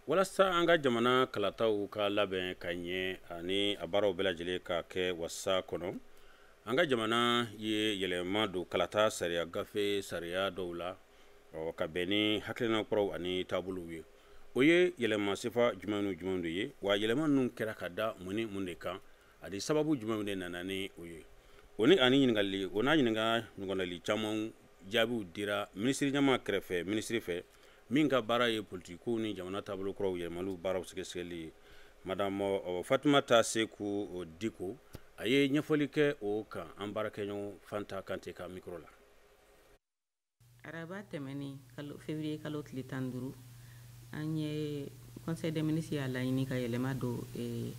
walasa an ka jamana kalataw ka labɛn ka ɲɛ ani a baaraw bɛɛ lajɛlen ka kɛ wasa kɔnɔ an ka jamana ye yɛlɛma don kalata sariya gafe sariya dɔw la ɔ ka bɛn ni hakilina kuraw ani taabolow ye o ye yɛlɛma sifa jumɛn ni jumɛn de ye wa yɛlɛma ninnu kɛra ka da mun ni mun de kan ani sababu jumɛnw de nana ni o ye o ni ani ɲininkali o n'a ɲininka ɲɔgɔnnali caman jaabiw dira minisiriɲɛmaa kɛrɛfɛ minisiri fɛ min ka baara ye politikow ni jamana taabolo kuraw yɛlɛmaliw baaraw sɛgɛsɛgɛli ye madame euh, fatumata seku euh, diko a ye ɲɛfɔli kɛ o kan an baarakɛɲɔgɔn fanta kante ka mikro la araba tɛmɛnen kalo fevrier kalo tile tan duuru an ye Conseil des ministres y'a laɲini ka yɛlɛma don eh,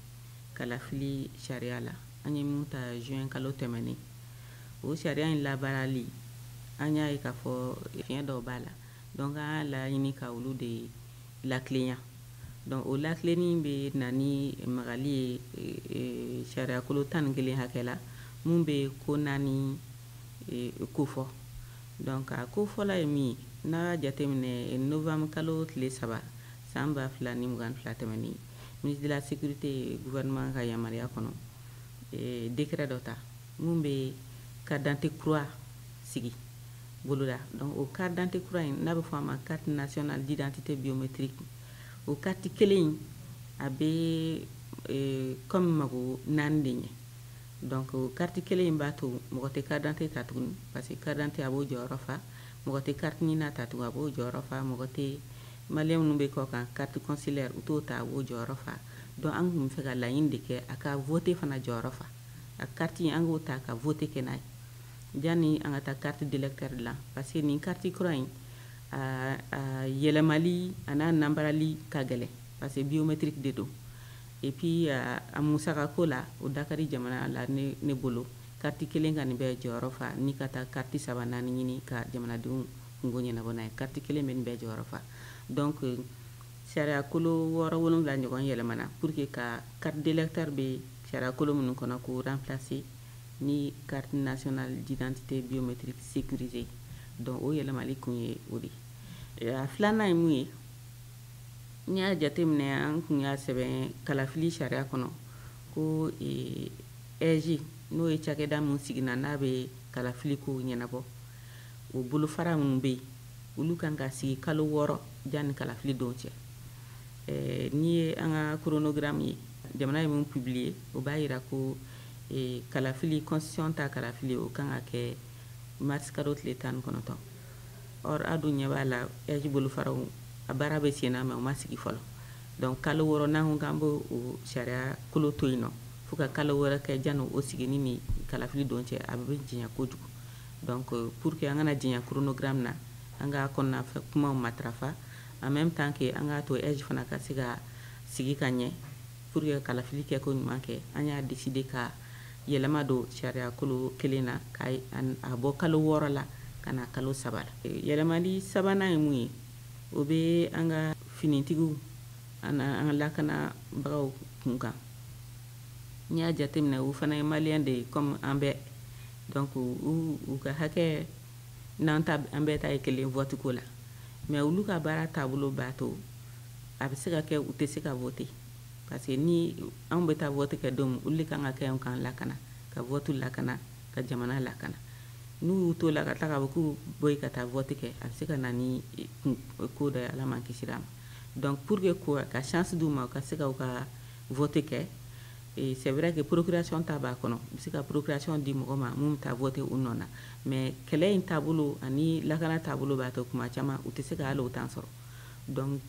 kalafili sariya la an ye min ta juin kalo tɛmɛnen o sariya in labaarali an y'a ye k'a fɔ fiɲɛ dɔw b'a la donc an y'a laɲini ka olu de latilenya donc o latilenni bɛ na ni magali ye eh, eh, sariyakolo tan ni kelen hakɛ la min bɛ ko naani eh, kofɔ Donc a ko fɔlɔ ye min ye, n'a y'a jateminɛ novembre kalo tile saba san 2022 tɛmɛnen, ministre de la Securite ye gouvernement ka yamaruya kɔnɔ decret dɔ ta min bɛ carte d'identité kura sigi boloda. Donc o carte d'identité kura in n'a bɛ fɔ a ma carte nationale d'identité biométrique, o carte kelen in a bɛ comme mago naani de ɲɛ. Donc kariti kelen in b'a to mɔgɔ tɛ carte d'identité ta tuguni parce que carte d'identité a b'o jɔyɔrɔ fa mɔgɔ tɛ kariti NINA ta tun a b'o jɔyɔrɔ fa mɔgɔ tɛ mali minnu bɛ kɔkan carte consulaire u t'o ta o jɔyɔrɔ fa donc an tun b'a fɛ ka laɲini de kɛ a ka vote fana jɔyɔrɔ fa a k'a to an k'o ta ka vote kɛ n'a ye yanni an ka taa carte d'électeur dilan parce que nin kariti kura in yɛlɛma an'a nanbarali ka gɛlɛn parce que biométrie de don Et puis a musaka ko la o da ka di jamana la ne bolo kariti kelen ka nin bɛɛ jɔyɔrɔ fa ni ka taa kariti saba naani ɲini ka jamanadenw kunko ɲɛnabɔ n'a ye kariti kelen bɛ nin bɛɛ jɔyɔrɔ fa donc sariya kolo wɔɔrɔ wolonwula ɲɔgɔn yɛlɛmana pour que ka carte d'électeur bɛ sariya kolo minnu kɔnɔ k'o remplacer ni carte nationale d'identité biométrique sécurisée donc o yɛlɛmali kun ye o de ye a filanan ye mun ye n'i y'a jate minɛ an tun y'a sɛbɛn kalafili sariya kɔnɔ ko AIGE eh, n'o ye cakɛda min sigina n'a bɛ kalafili ko ɲɛnabɔ o bolofara minnu bɛ yen olu kan ka sigi kalo wɔɔrɔ yanni kalafili don cɛ eh, n'i ye an ka koronogiramu ye jamana ye min publier o b'a yira ko eh, kalafili constitution ta kalafili o kan ka kɛ marisi kalo tile tan ni kɔnɔntɔn Or a dun ɲɛ b'a la AIGE bolofaraw a baara bɛ senna mais u ma sigi fɔlɔ donc kalo wɔɔrɔ n'an ko k'an b'o o sariyakolo to yen nɔ fo ka kalo wɔɔrɔ kɛ janni o sigini ni kalafili don cɛ a bɛ janya kojugu donc pour que an kana janya chronogramme na an ka kɔnɔna fɛ kumaw matarafa en même temps que an k'a to AIGE fana ka se ka sigi ka ɲɛ pour que kalafili kɛko ɲuman kɛ an y'a décider ka yɛlɛma don sariyakolo kelen na ka a bɔ kalo wɔɔrɔ la ka na kalo saba la yɛlɛmali sabanan ye mun ye o bɛ an ka finitigiw an an ka lakanabagaw kunkan n'i y'a jateminɛ u fana ye malien de ye kɔmi an bɛɛ donc u ka hakɛ n'an ta an bɛɛ ta ye kelen voteko la mais olu ka baara taabolo b'a to a bɛ se ka kɛ u tɛ se ka voter parce que ni anw bɛ taa vote kɛ don min olu de kan ka kɛ k'an lakana ka vote lakana ka jamana lakana n'u y'u t'o la ka tila k'a fɔ k'u bɔ yen ka taa vote kɛ a bɛ se ka na ni eh, eh, ko dɔ ye Ala m'an kisi a ma donc pour que ko ka chance d'u ma u ka se ka u ka vote kɛ eh, c'est vrai que procuration ta b'a kɔnɔ u bɛ se ka procuration di mɔgɔ ma min bɛ taa voter u nɔ na mais kɛlɛ in taabolo ani lakana taabolo b'a to kuma caman u tɛ se ka hali o temps sɔrɔ donc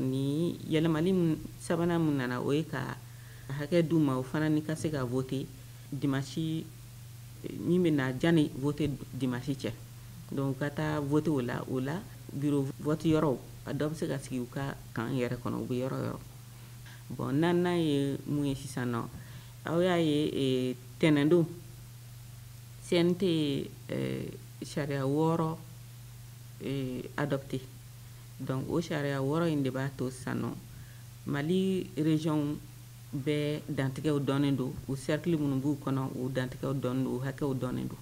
ni yɛlɛmali sabanan min nana o ye ka hakɛ d'u ma u fana ni ka se ka voter dimanche min bɛ na janni vote dimanche cɛ donc u ka taa voter o la o la bureau vote yɔrɔw a dɔ bɛ se ka sigi u ka camp yɛrɛ kɔnɔ u bɛ yɔrɔ o yɔrɔ bon naaninan ye mun ye sisan nɔ aw y'a ye tɛnɛndon CNT ye sariya wɔɔrɔ euh, adopté donc o sariya wɔɔrɔ in de b'a to sisan nɔ mali région bɛɛ dantigɛw dɔnnen don u cercle minnu b'u kɔnɔ u dantigɛw dɔnnen don u hakɛw dɔnnen don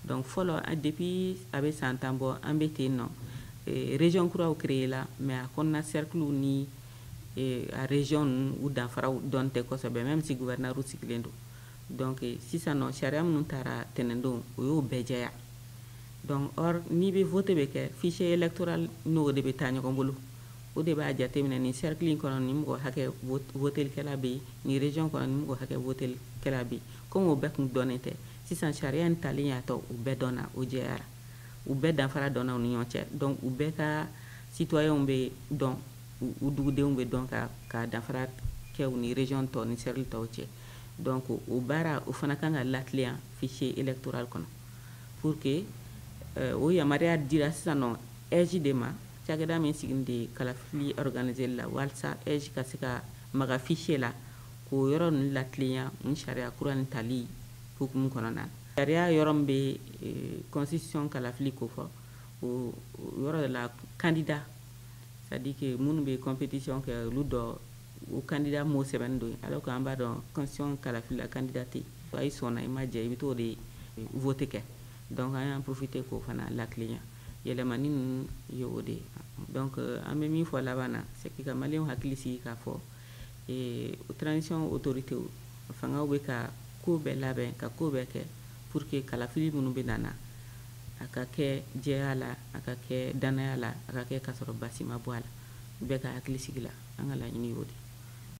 donc fɔlɔ depuis a bɛ san tan bɔ an bɛ ten nɔ euh, région kuraw créé la mais a kɔnɔna cerclew ni euh, a région ninnu u danfaraw dɔn tɛ kosɛbɛ même si gouverneur sigilen don donc sisan nɔ sariya minnu taara tɛnɛndon o y'o bɛɛ jɛya donc or n'i bɛ vote bɛ kɛ fichier électoral n'o de bɛ taa ɲɔgɔn bolo o de b'a jateminɛ nin cercle in kɔnɔ nin mɔgɔ hakɛ votelikɛla bɛ yen nin région kɔnɔ nin mɔgɔ hakɛ votelikɛla bɛ yen komi o bɛɛ tun dɔnnen tɛ sisan sariya in talen y'a to u bɛɛ dɔnna o jɛyara u bɛɛ danfara dɔnna u ni ɲɔgɔn cɛ donc u bɛɛ ka citoyenw bɛ dɔn u dugudenw bɛ dɔn ka ka danfara kɛ u ni région tɔw ni cercle tɔw cɛ donc o baara o fana kan ka latilen yan fichier électoral kɔnɔ pour que euh, o yamaruya dira sisan nɔ AIGE de ma cakɛda min sigilen de ye kalafili organiseli la walisa AIGE ka se ka maga fichier la k'o yɔrɔ ninnu latilenya nin sariya kura nin tali hukumu kɔnɔna na sariya yɔrɔ min bɛ euh, constitution kalafili ko fɔ o yɔrɔ de la candidat c'est à dire que minnu bɛ compétition kɛ olu don o candidat mot sɛbɛnnen don yen alors que an b'a dɔn constitution kalafili la candidat tɛ yen Wa i sɔnna i ma jɛn i bɛ t'o de vote kɛ donc an y'an profiter k'o fana latilenya yɛlɛmani ninnu ye o de ye donc an bɛ min fɔ laban na c'est que ka maliyɛnw hakili sigi k'a fɔ eh, transition autorité fangaw bɛ ka ko bɛɛ labɛn ka ko bɛɛ kɛ pour que kalafili minnu bɛna na a ka kɛ jɛya la a ka kɛ dannaya la a ka kɛ k'a sɔrɔ basi ma bɔ a la bɛɛ ka hakili sigi la an ka laɲini y'o de ye